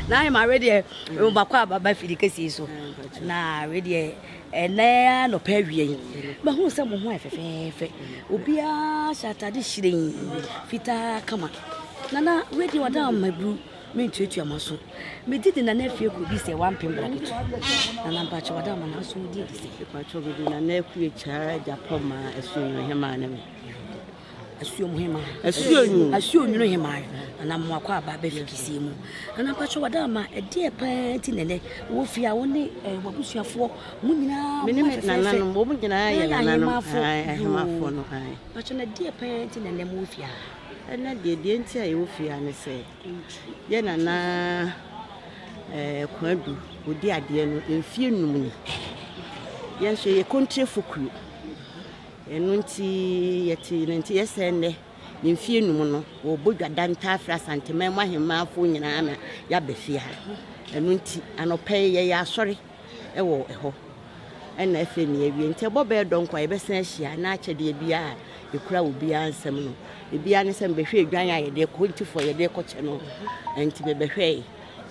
na ayɛ ma awe deɛ mbakɔ a baba firi kɛse yi so na awe deɛ ɛnɛ anɔpɛ awie yi mahu sɛ mo ho ayɛ fɛfɛɛfɛ obiara hyɛ atade hyerɛn fitaa kama nana awe deɛ ɔda mmaburu mentuatua ma so megye de nana afie kɔdi sɛ wampem braketo nana mpakyɛ wɔda ma no aso wodi adi sɛ ɛpakyɛ bɛdi nana akue kyaa agyapɔ ma ɛso nnuhema ne me asuomuhema asuonwunu asuonwunu hema na mo akɔ aba bɛ fikisie mu ana mpatsɔ wɔ dama ɛdeɛ paa ti nɛnɛ wɔ fie a wɔn ne ɛɛ wɔ abusuafoɔ mo nyinaa mo ayɛ fɛfɛ wɔn nyinaa yɛ ahemafo ahemafo no mpatsɔ na ɛdeɛ paa ti nɛnɛ mo wɔ fie a ɛnɛ deɛ deɛ nti a yɛwɔ fie a ne sɛ yɛ nana ɛɛ kwadu odi adeɛ no mfie num ni yɛn nso yɛ kɔntire fokuro. Ɛno nti yɛte ne nteɛ sɛ nnɛ, ne mfeɛ num no, wɔbɔ dwa da ntaa frɛ Asanteman mu ahemmanfoɔ nyinaa na yɛaba fie ha. Ɛno nti anɔpa yi yɛyɛ asɔre wɔ ɛhɔ. Ɛna afei ne yɛawie. Nti ɛbɔ bɛyɛ dɔn kɔ a yɛbɛsan ahyia na akyɛ deɛ biara a yɛkura wɔ biara nsɛm no. Ebiara ne sɛ mebɛhwɛ edwan a yɛde kɔ ntifoɔ yɛde kɔ kyɛ no. Nti mebɛhwɛe.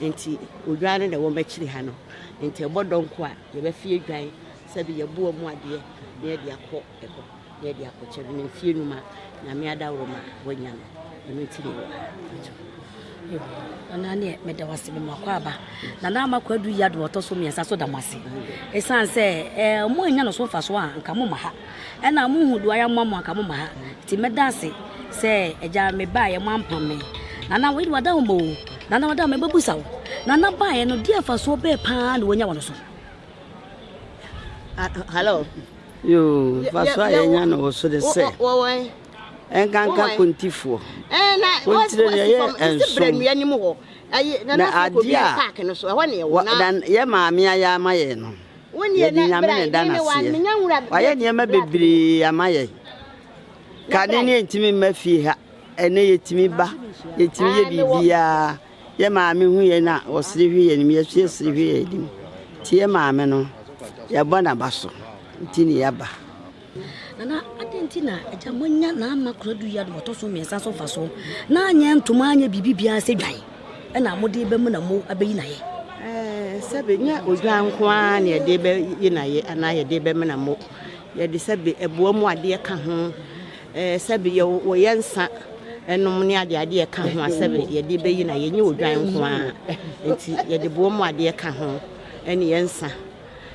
Nti odwan no na ɛwɔ m'akyiri ha no. Nti ɛbɔ dɔn kɔ a Yɛbɛfe adwan sɛ de yɛboa mu adeɛ na yɛde akɔ hɔ na yɛde akɔkyɛ no, na mfie num a Nyame adaworoma a wanya no, ɛno nti na ɛwɔ ha. Yo, Nana neɛ meda wase me makɔ aba. Nana ama kɔ adu yi ado ɔtɔ so mmiɛnsa so da mo ase. Ɛsiane sɛ ɛɛ mo anya no so mfa so a nka mo ma ha. Ɛna mo nhu do ara mma mo anka mo mma ha. Nti mɛda ase sɛ Agya me baeɛ mo ampam me. Nana wei de wada hɔ ma o. Nana wada hɔ ma ɛbɛbusa wo. Nana baeɛ no deɛ mfasoɔ bɛɛ paa na wanya wɔ no so. Hello. Yoo mfasoɔ a yɛnya no wɔ so de sɛ. Ɛnkanka kontifoɔ. Ɛna wɔntire no ɛyɛ nson. Na adeɛ a yɛ maame ayɛ ama yɛn no. Yɛde Nyame na ɛda no aseɛ. Wayɛ nneɛma bebree ama yɛn. Kane ne yɛntumi mma fie ha. Ɛnɛ yɛtumi ba, yɛtumi yɛ biribiara. Yɛ maame hu yɛn a, ɔsere hwɛ yɛn anim, yɛso yɛsere hwɛ yɛn anim. Nti yɛ maame no, yɛbɔ n'aba so, nti ne yɛaba. Nana, adɛn nti na agya moanya n'ama koradu yi adom ɔtɔ so mmiɛnsa so mfaso na anyɛ ntoma anyɛ biribi biara sɛ dwan ɛna mode bɛmu na mo abɛyi n'ayɛ? Eh, sɛbe nyɛ odwan nko ara na yɛde bɛyi n'ayɛ anaa yɛde bɛmena mo yɛde sɛbe ɛboa mu adeɛ ka ho eh, sɛbe wɔyɛ nsa ɛnom ne adeɛ adeɛ ka ho a sɛbe yɛde bɛyi n'ayɛ nyɛ odwan nko ara nti yɛde boa mu adeɛ ka ho ɛne yɛ nsa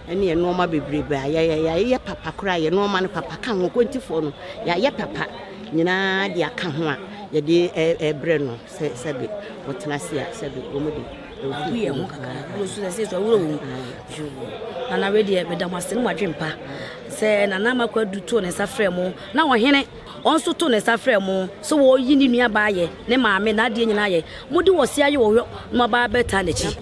ɛne yɛ nnoɔma bebrebe a yɛyɛ yɛayɛ papa koraa yɛ nnoɔma no papa ka ho kwantifoɔ no yɛayɛ papa nyinaa de aka ho a yɛde ɛbrɛ no sɛ sɛbe wɔtena ase a sɛbe wɔn de ɛwɔ yɛn ho kakra wuro so sɛ sɛ wuro mu nana wei deɛ meda mo ase no mo adwene pa sɛ nana amakɔ adu to ne nsa frɛ mo na ɔhene wɔn nso to ne nsa frɛ mo sɛ wɔyi ne nuabaa yɛ ne maame n'adeɛ nyinaa yɛ mode wɔ se ayɛ wɔ hɔ na ɔbaa bɛtaa n'akyi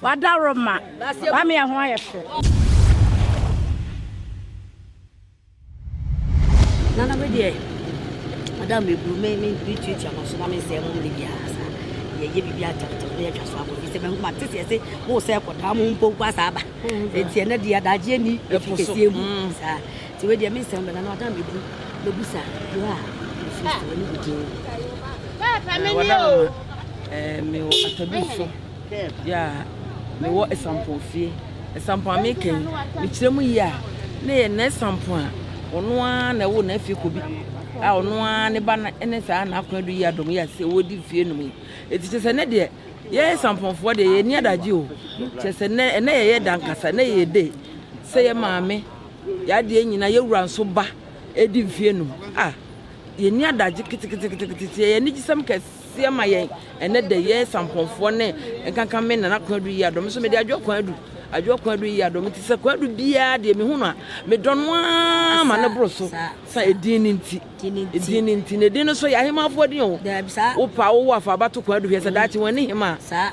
Wada Roma. Mami ɛho ayɛ fɛ. Nana bɛ deɛ. Ada mi buru mi mi mi tui tia ma so na mi nsɛ mo mi bi asa. Yɛ yɛ bibi atamtam ne yɛ twa so abɔ bi sɛ bɛn kuma tete ɛsɛ mo sɛ kɔda mo mpo nkɔ asa aba. Eti ɛnɛ deɛ adagye ni efi kɛseɛ mu saa. Ti wɛ deɛ mi nsɛm bɛ nana ada mi buru mi bu sa yɛ a nsu wɔ ne bi din. Ɛɛ wada mo ma ɛɛ mi wɔ atabi so. Yeah, me wɔ Esampon fie. Esampon a meka yi, mekyerɛ mu yie a, na yɛ na Esampon a ɔno ara na ɛwo na afie kɔ bi a ɔno ara ne ba ne saa na akɔn adu yi adom yi ase wɔdi fie nom yi. Eti kyerɛ sɛ ne deɛ yɛ Esamponfoɔ deɛ yɛ ni adagye o. Kyerɛ sɛ nɛ ɛnɛ yɛyɛ dankasa nɛ yɛ de sɛ yɛ maame yadeɛ nyina yɛwura nso ba ɛdi mfie nom a yɛ ni adagye keteketekete yɛ anigyesɛm kɛse. seɛ ma yɛn ɛnɛ da yɛn sampɔnfoɔ ne nkanka me nana kwan adu yiadɔ me so mede adwoa kwan adu adwoa kwan adu yiadɔ me ti sɛ kwan adu biara deɛ mehu no a medɔ no ara ma ne boro so sa edin ne nti edin ne nti na edin no so yɛ ahemafoɔ din o wopa wowɔ afa abato kwan adu hwɛ sɛ daakye wɔn ani hema a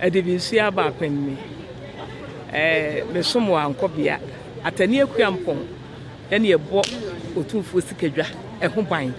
Adibisua aba apem ni eh, me som wɔ Ankɔbea, Atani Akuampɔn ɛne ɛbɔ Otumfuo Sikadwa ɛho ban.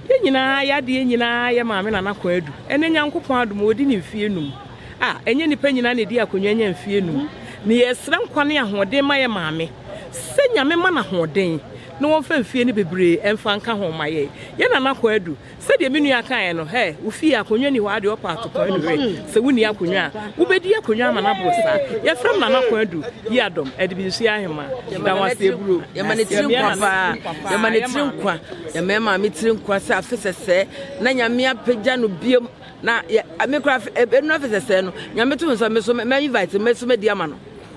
Yɛn nyinaa yɛ adeɛ nyinaa yɛ Maame Nana Kwan Adu. Ɛnɛ Nyankopɔn adom ɔdi ne mfie num. A, ɛnyɛ nipa nyinaa na ɛdi akonwa nya mfie num. Na yɛsrɛ nkwa ne ahoɔden ma yɛn Maame sɛ Nyame ma no ahoɔden na wɔmfa mfie no bebree ɛmfa nka ho ma yɛn. Yɛn Nana Kwan Adu, Sɛdeɛ me nua kaeɛ no, hɛ, wo fie akonnwa nni hɔ ara deɛ ɔpa atokwan nu hɛ, sɛ wonni akonnwa a, wobɛdi akonnwa ama no aboro saa. Yɛfrɛ no Nana Kwadu Yiadom Adibinsuya Ahemaa. Yɛda wo ase aburo. Yɛma ne tiri nkwa paa. Yɛma ne tiri nkwa. Yɛma yɛ maame tiri nkwa sɛ afe sɛsɛɛ na Nyame apagya no biom na yɛ, me koraa ɛnura afe sɛsɛɛ no, Nyame to me nsa me nso mɛ invite me nso mɛdi ama no.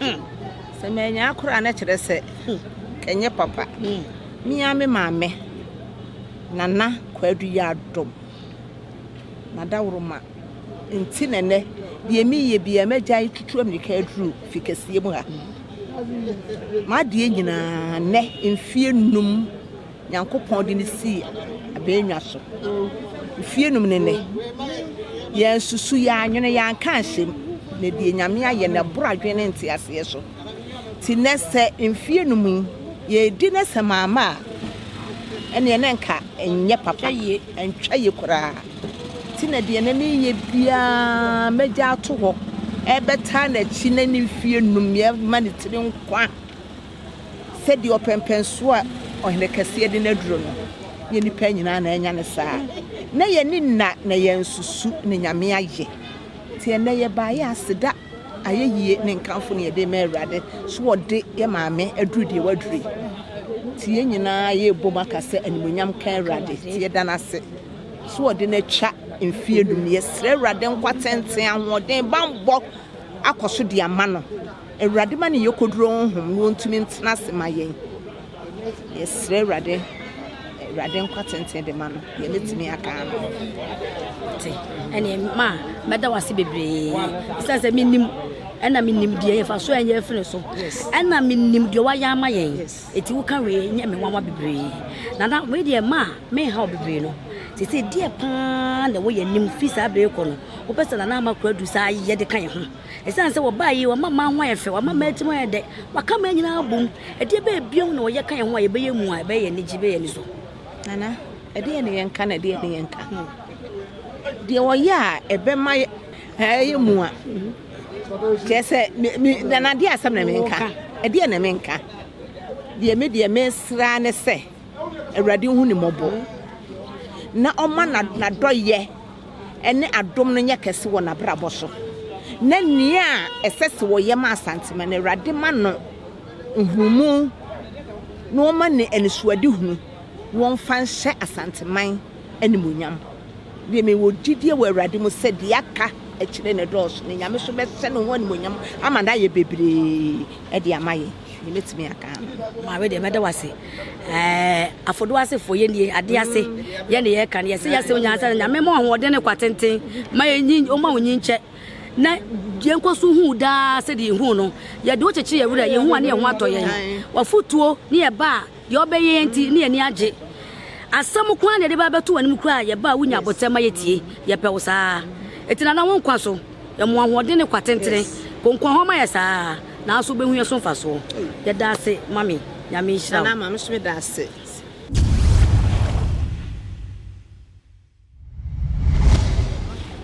Hmm. Sɛ manyaa koraa na kyerɛ sɛ hmm. ɛnyɛ papa. Hmm. Mia me maame nana kwadu yɛ adom na daworo ma nti na nɛ deɛ meyɛ bia magya yi tutu amirika aduru fi kɛseɛ mu ha. Hmm. M'adeɛ nyinaa nɛ mfie num Nyankopɔn de no sii abɛɛnwa so. Mfie num ne nnɛ, yɛansusu, yɛannwene, yɛanka anhyɛ mu, na deɛ Nyame ayɛ no ɛboro adwene ne nteaseɛ so. Nti nnɛ sɛ mfie num yi yɛredi no sɛ maama a, ɛneɛ na nka ɛnyɛ papa yie, ɛntwa yie koraa. Nti na deɛ na mereyɛ biara mɛgya ato hɔ, ɛbɛtaa n'akyi na ne mfie num yɛma ne tiri nkwa. Sɛdeɛ ɔpɛmpɛnsoɔ a ɔhene kɛseɛ de no aduro no, nyɛ nnipa nyinaa na anya no saa. Na yɛnni nna na yɛansusu ne nyame ayɛ. Nti ɛnnɛ yɛbaeɛ aseda, ayɛyie ne nkamfo na yɛde rema Awurade so ɔde yɛ maame aduru deɛ waduru yi. Nti yɛn nyinaa yɛrebom aka sɛ animuonyam nka Awurade. Nti yɛda no ase so ɔde no atwa mfeɛ num. Yɛsrɛ Awurade nkwatenten, ahoɔden, bammɔ akɔ so de ama no. Awurade ma ne yɔkɔduro honhom no ɔntumi ntena ase ma yɛn. Yɛsrɛ Awurade, Awurade nkwa tenten de ma no, deɛ mɛtumi aka ano. Te, ɛne ma mɛda wase bebree, sɛ sɛ menim ɛna menim deɛ yɛfa so ɛnyɛ afiri so ɛna menim deɛ wayɛ ama yɛn ɛti woka wei nyɛ me nwanwa bebree nana wei deɛ ma menha wo bebree no te sɛ deɛ paa na ɛwɔ yɛ anim firi saa berɛ kɔ no wopɛ sɛ nana ama kora du saa yɛde ka yɛ ho Esiane sɛ wɔbae yi, wɔama mmaa ho ayɛ fɛ, wɔama mmaa tirim ayɛ dɛ, wɔaka mmaa nyinaa abom. Ɛdeɛ bɛyɛ bio na wɔyɛ ka yɛn ho a yɛbɛyɛ mu a ɛbɛyɛ yɛn anigye, ɛbɛyɛ yɛn ani so? Nana, ɛdeɛn na yɛnka na ɛdeɛn na yɛnka? Hmm. Deɛ wɔyɛ a ɛbɛma ɛyɛ mu a, kyerɛ sɛ nana deɛ asɛm na menka, ɛdeɛn na menka? Deɛ me deɛ mesra ne sɛ Awurade hu ne mmɔbɔ na ɔma n'adɔyɛ ne adom no nyɛ kɛse wɔ n'abrabɔ so, na nea ɛsɛ sɛ ɔyɛ ma Asantema no, Awurade ma no nhumu na ɔma no anisoadehunu na ɔmfa nhyɛ Asanteman animuonyam. Deɛ mewɔ gyidie wɔ Awurade mu sɛ deɛ aka akyire no dɔɔso, na Nyame nso bɛhyɛ ne ho animuonyam ama no ayɛ bebree de ama yɛn. Deɛ mɛtumi aka no, maame deɛ mɛda wo ase. Afodo asefoɔ yɛ nie adeɛ ase yɛ ne yɛka no yɛsɛ yɛsɛ onyansa no nyame ma ɔhoɔden ne kwa tenten ma yɛnyi ɔma wo nyinkyɛ na yɛnkɔ so hu daa sɛdeɛ yɛhu no yɛde wo kyekyere yɛwerɛ yɛhu a ne yɛho atɔ yɛn wafotuo ne yɛba a deɛ ɔbɛyɛ yɛn nti ne yɛni agye asɛm koraa na yɛde bɛbɛto w'anim koraa yɛba a wonya abotɛ ma yɛtie yɛpɛ wo saa ɛti nana wo nkwa so Yɛn mu ahoɔden ne kwa tentene. Konko ahoma yɛ saa ara, nanso wobɛhu yɛn so mfasoɔ. Yɛda ase, Mame. Nyame nhyira wo. Mame nso meda ase.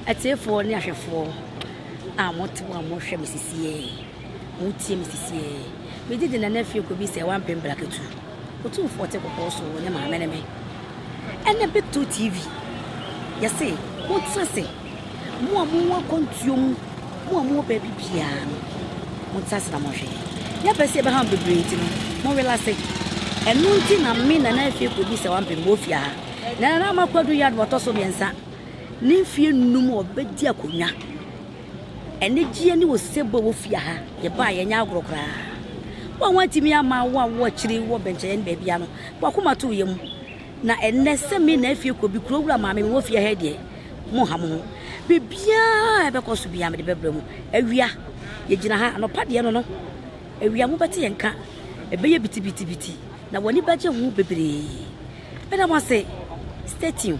Atiefoɔ ne ahwɛfoɔ a mote hɔ a mohwɛ me sisiɛ, motie me sisiɛ, megye di Nana Afie Kobisɛ wampem brakatu. Otumfoɔ te kɔkɔɔ so ne maame ne me ɛnɛ bɛtɔ TV yɛse mo tena se mo a mo wɔ akwantuo mu mo a mo wɔ baabi biara no mo tena se na mo hwɛ yɛ bɛ se ɛbɛha bebree nti no mo wela se ɛno nti na me nana afie kɔ bi sɛ wampem mo ofie ha na nana ama kwadu yɛ adoma tɔ so mmiɛnsa ne mfie num ɔbɛdi akonnwa Anigyeɛ ne osebɔ wɔ fie ha. Yɛbaeɛ ɛnyɛ agorɔ koraa. Wo a woantumi amma wo a wowɔ akyiri wɔ bɛnkyɛeɛ ne baabiara no, w'akoma too yam. Na ɛnnɛ sɛ me na afie kɔ bi, kurowura maame mewɔ fie ha yi deɛ, monha mo ho. Biribiara a ɛbɛkɔ so biara mede bɛbrɛ mo. Awia, yɛgyina ha. Anɔpa deɛ no no, awia mobɛte yɛn nka. Ɛbɛyɛ bitibitibiti, na w'ani bɛgye ho bebree. Meda mo ase. Stay tuned.